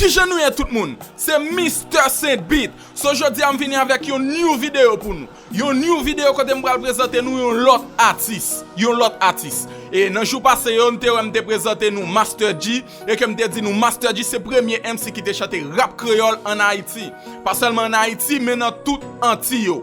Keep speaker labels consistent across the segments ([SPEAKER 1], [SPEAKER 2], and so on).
[SPEAKER 1] Kijan nou ye tout moun, se Mister Saint Beat, so jodi a m vini avèk yon new video pou nou, yon new video kote m pral prezante nou yon lòt atis, yon lòt atis, e nan jou pase yo nou te wè m te prezante nou Master Dji, e ke m te di nou Master Dji se premye MC ki te chante rap kreyòl an Ayiti, pa sèlman an Ayiti men nan tout Antiy yo.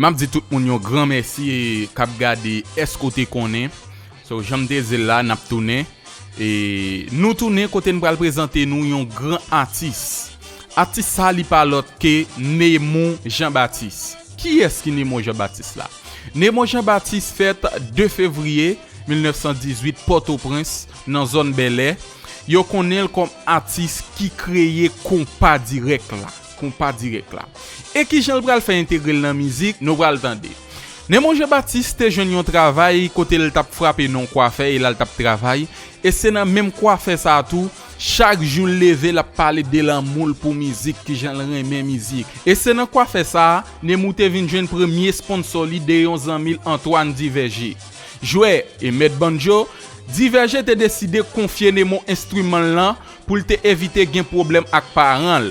[SPEAKER 1] Map di tout moun yon gran mèsi kap gade èske ou te konnen so janm te dil la nap tounen e nou tounen kote n pral prezante nou yon gran atis atis sa li pa lòt ke Nemou Jean Baptiste kiyès ki Nemou Jean Baptiste la Nemou Jean Baptiste fèt 2 fevriye 1918 pòtoprens nan zòn bèlè yo konnen l kòm atis ki kreye konpa dirèk la. Konpa dirèk la. E kijan l pral fè entegre l nan mizik, nou pral tande. Nemon Jean Baptiste te jwenn yon travay kote l t ap frape nan yon kwafè e la l t ap travay, e se nan menm kwafè sa a tou, chak jou l leve l ap pale de lanmou l pou mizik, kijan l renmen mizik. E se nan kwafè sa a, Nemou te vin jwenn premye sponsò li de yon zanmi l Antoine Duvergé. Jwè e mèt banjo, Duvergé te deside konfye Nemou enstriman l lan, Pou l te evite gen pwoblèm ak paran l.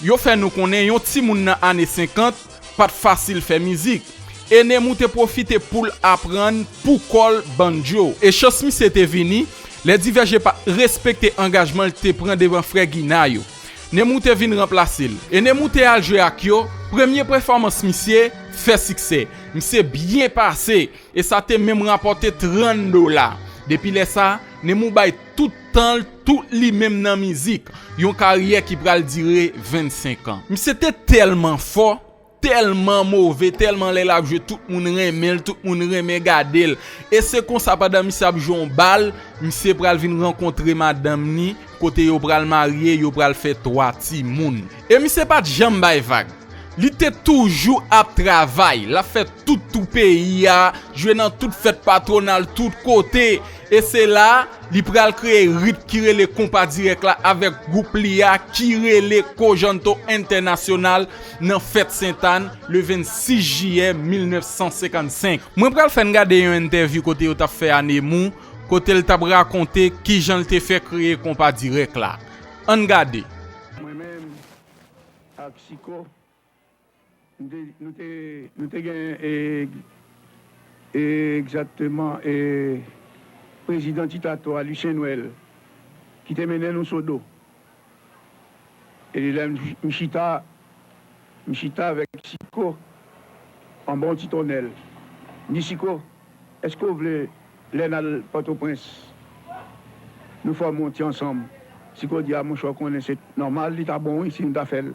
[SPEAKER 1] Yo fè nou konnen yon timoun nan ane 50 pa t fasil fè mizik. Enemou te pwofite pou l aprann pou kò l bandjo. E chans misye te vini lè Divèje pa t respekte angajman l te pran devan frè Gina yo. Nemou te vin ranplase l. Enemou te al jwe ak yo, premye pèfòmans misye fè siksè. Misye byen pase e sa te menm rapòte 30 dola. Depi lè sa, Nemou bay. Tout tan l, tout li menm nan mizik. Yon karyè ki pral dire 25 an. Misye te tèlman fò, tèlman move, tèlman lè l ap jwe tout moun renmen l, tout moun renmen gade l. E se konsa pandan misye ap jwe yon bal, misye pral vin rankontre madanm ni, kote yo pral marye, yo pral fè 3 timoun. E misye pa t janm bay vag. Li te toujou ap travay, l ap fè tout tou peyi a, jwe nan tout fèt patwonal tout kote. E se la a, li pral kreye rit ki rele konpa dirèk la avèk gwoup li a ki rele Kojanto Entènasyonal nan fèt Sentàn le 26 jiyè 1955. Mwen pral fè n gade yon entèvyou kote yo t ap fè a Nemou kote l t ap rakonte ki jan l te fè kreye konpa dirèk la. An n gade. Mwen menm
[SPEAKER 2] ak Chiko Nou te gen egzakteman prezidan ti tato a Lucien Noël ki te mennen nou Sodo. E lè m chita, m chita avèk Siko anba yon ti tonnèl. M di Siko, èske w vle lè n al Pòtoprens nou fòme yon ti ansanm? Siko di, a monchè w konnen se nòmal li ta bon wi si nou ta fè l.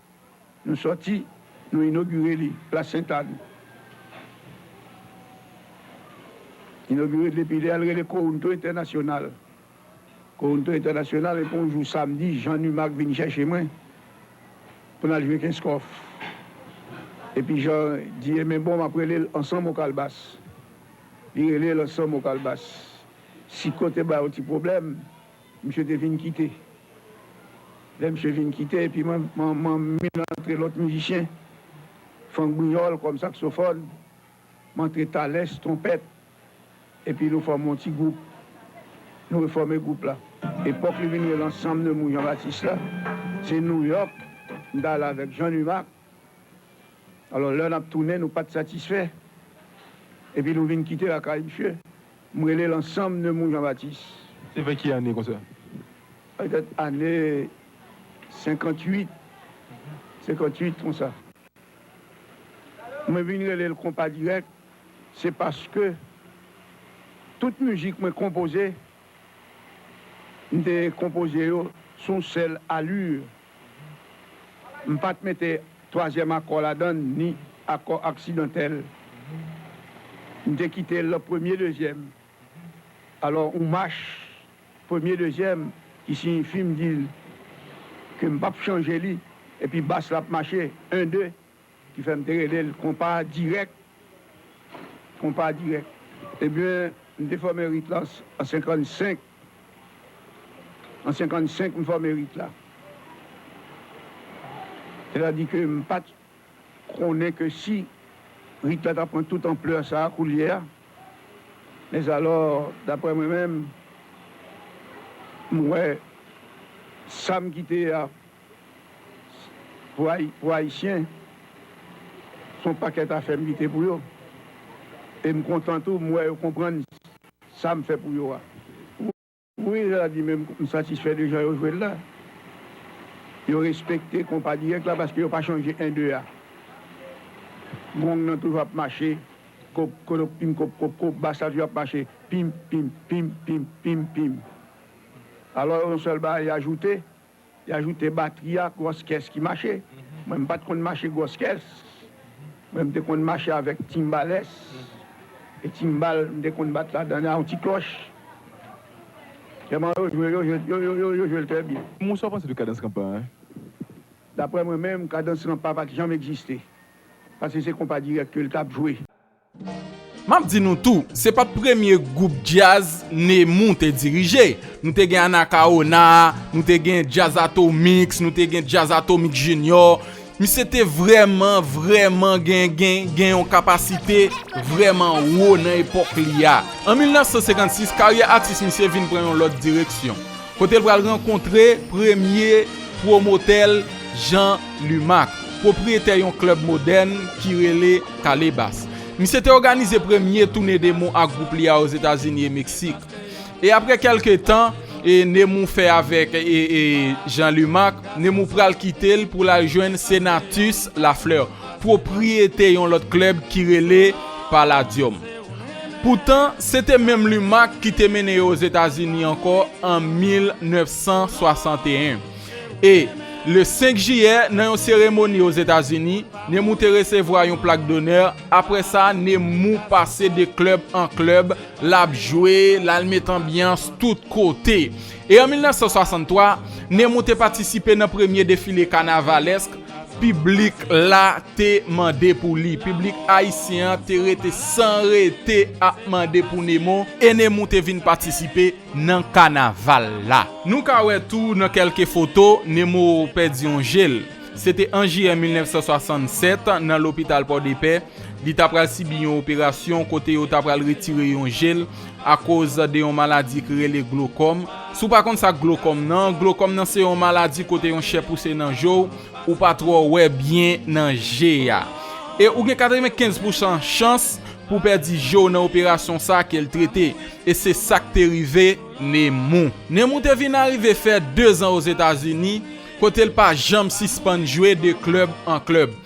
[SPEAKER 2] Nou sòti, nou inogire li, plas Sent Ann. Inogire li epi lè a l rele Counto Entènasyonal. Counto Entènasyonal epi yon jou samdi Jean Numack vin chèche mwen pou n al jwe Kenskòf. Epi Jean di e men bon m ap rele l Ansanm o Kalbas. Li rele l Ansanm o Kalbas. Siko te bay yon ti pwoblèm. Misye te vin kite. Lè misye vin kite epi mwen vin rantre lòt mizisyen, Frank Brignol kòm saksofòn, m antre Thalès, twonpèt, epi nou fòme yon ti gwoup. Nou refòme gwoup la. Epòk li vin rele Ensemble de Mount Jean Baptiste la, se Nouyòk m t al avèk Jean Numack, Alò lè nap tounen nou pat satisfè epi nou vin kite lakay misye. M rele l ansanm Nemou Janbatis. Se vè ki ane
[SPEAKER 3] konsa? Petèt
[SPEAKER 2] ane 58, 58 konsa. Mwen vin rele l konpa dirèk se paske tout mizik mwen konpoze m te konpoze yo sou yon sèl alur. M pa t mete twazyèm akò ladan l ni akò aksidantèl. M te kite l premye dezyèm. Alò yon mach premye dezyèm ki siyifi m di l ke m p ap chanje li epi bas la ap mache 1 2. Ki fè m te rele l konpa dirèk, konpa dirèk. Ebyen, m te fòme rit la an 55, an 55 m fòme rit la. Sètadi ke m pa t konnen ke si rit la ta pran tout anplè sa a koulye a. Mèzalò, daprè mwen menm, m wè sa m kite a. Pou Ayisyen, se yon pakèt afè m kite pou yo. E m kontan tou, m wè yo konprann sa m fè pou yo a. Wi, je la di, men m satisfè de jan yo jwe l la. Yo respekte konpa dirèk la paske yo pa chanje en de a. Gong nan toujou ap mache, kop, kodok, pim, kop, kop, kop. Bas la toujou ap mache, pim, pim, pim, pim, pim, pim. Alò, yon sèl bagay ajoute, Li ajoute batri a gwòs kès ki mache. Mwen m pat konn mache gwòs kès. Mwen m te konn mache avèk timbalès. E timbal m te konn bat ladan an yon ti klòch. Vrèman yo jwe yo jwe l trè byen. Moun sa w panse de kadans ranpa
[SPEAKER 3] a?
[SPEAKER 2] Daprè mwen menm, kadans ranpa pat janm egziste. Pase se konpa dirèk ke l tap jwe.
[SPEAKER 1] Map di nou tou, se pat premye gwoup djaz Nemou te dirije. Nou te gen Anakawona, nou te gen Djaz Atomix, nou te gen Djaz Atomix Junior. Misye te vrèman, vrèman gen, gen, gen yon kapasite vrèman wo nan epòk li a. An 1956, karyè atis misye vin pran yon lòt direksyon. Kote l pral rankontre premye pwomotè l Jean Lumac, pwopriyetè yon klèb modèn ki rele Calebas. Misye te òganize premye toune Nemou ak gwoup li a Ozetazini e Meksik. E apre kèlke tan Nemou fè avèk Jean Lumac, Nemou pral kite l pou l al jwenn Senatus Lafleur, pwopriyete yon lòt klèb ki rele Palladium. Poutan, se te menm Lumac ki te mennen yo Ozetazini ankò an 1961. E, le 5 jiyè, nan yon seremoni Ozetazini, Nemou te resevwa yon plak donè, apre sa, Nemou pase de klèb an klèb, l ap jwe, l al met anbyans tout kote. E an 1963, Nemou te patisipe nan premye defile kanavalèsk, Piblik la te mande pou li. Piblik ayisyen an te rete san rete ap mande pou Nemou e Nemou te vin patisipe nan kanaval la. Nou ka wè tou nan kèlke foto, Nemou pèdi yon je l. Se te an jiyè 1967, nan lopital Pòdepè, Li ta pral sibi yon operasyon kote yo ta pral retire yon je l akoz de yon maladi ki rele glokòm. Si w pa konn sa glokòm nan, glokòm nan se yon maladi kote yon chè pouse nan je w, ou pa twò wè byen nan je a. E ou gen 95 pousan chans pou w pèdi je w nan operasyon sa ke l trete. E se sa k te rive Nemou. Nemou te vin arive fè dezan Ozetazini kote l pa janm sispann jwe de klèb an klèb.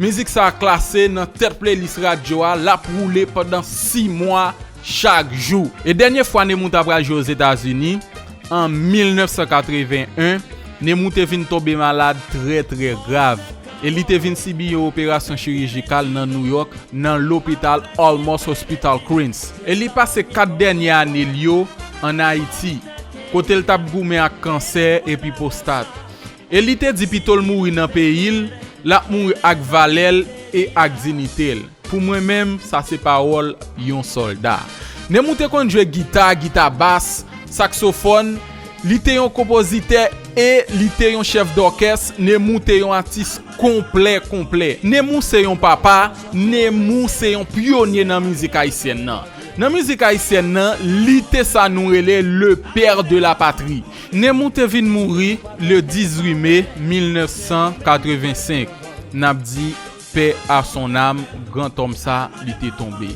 [SPEAKER 1] Mizik sa klase nan tèt playlist radyo a, lap woule pandan 6 mwa chak jou. E dènye fwa Nemou ta pral jwe Ozetazini, an 1981, Nemou te vin tonbe malad trè trè grav, e li te vin sibi yon operasyon chirijikal nan Nouyòk nan lopital Olmos Hospital Queens. E li pase 4 dènye ane l yo an Ayiti, kote l tap goumen ak kansè epi pwostat. E li te di pito l mouri nan peyi l, l ap mouri ak valè l e ak dinite l. Pou mwen menm, sa se pawòl yon sòlda. Nemou te konn jwe gita, gita bas, saksofòn, li te yon konpozitè e li te yon chèf dòkès, Nemou te yon atis konplè konplè. Nemou se yon papa, Nemou se yon pyonye nan mizik ayisyèn nan. Nan mizik ayisyèn nan, li te sa nou rele le père de la patrie. Nemou te vin mouri le 18 me 1985, nap di pè a son nam gran tòm sa li te tonbe.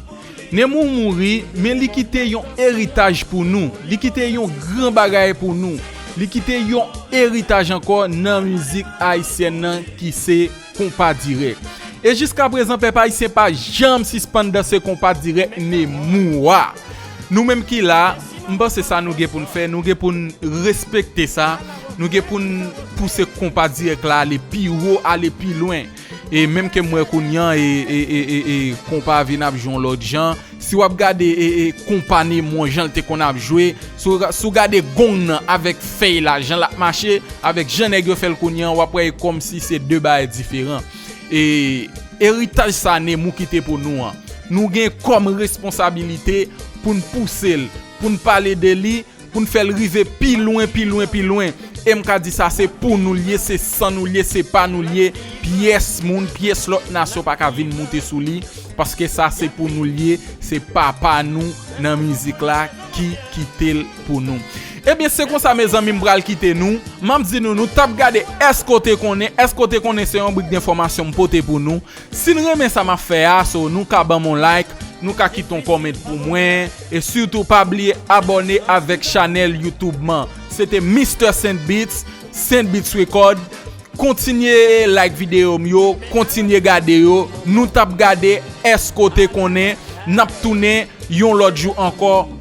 [SPEAKER 1] Nemou mouri men li kite yon eritaj pou nou, li kite yon gran bagay pou nou, li kite yon eritaj ankò nan mizik ayisyèn nan ki se. Konpa dirèk. E jiska prezan pèp ayisyen pa janm sispann danse konpa dirèk Nemou a. Nou menm ki la, m panse sa nou gen pou n fè, nou gen pou n respekte sa, nou gen pou n pouse konpa dirèk la ale pi wo, ale pi lwen. E menm ke m wè kounye an e konpa vin ap jwe yon lòt jan. Si wap gade konpa nemon jan l te konn ap jwe, si w gade gong nan avèk fèy la jan l ap mache, avèk jan nèg yo fè l kounye an, w ap wè e kòmsi se 2 bagay diferan. E eritaj sa Nemou kite pou nou an, nou gen kòm responsabilite pou n pouse l, pou n pale de li, Pou n fè l rive pi lwen, pi lwen, pi lwen. E m ka di sa se pou nou l ye, se san nou l ye, se pa nou l ye. Pyès moun, pyès lòt nasyon pa ka vin moute sou li. Paske sa se pou nou l ye, se papa nou nan mizik la ki kite l pou nou. Ebyen se konsa mezanmi m pral kite nou. M ap di nou nou t ap gade Èske w te konnen? Èske w te konnen se yon brik denfòmasyon m pote pou nou. Sin renmen sa map fè a so nou ka banm on like nou ka kite on comment pou mwen e sitou pa bliye abòne avèk chanèl YouTube man se te Mister Saint Beats Saint Beats Record kontinye like video m yo kontinye gade yo nou tap gade eske w te konnen nap tounen yon lòt jou ankò.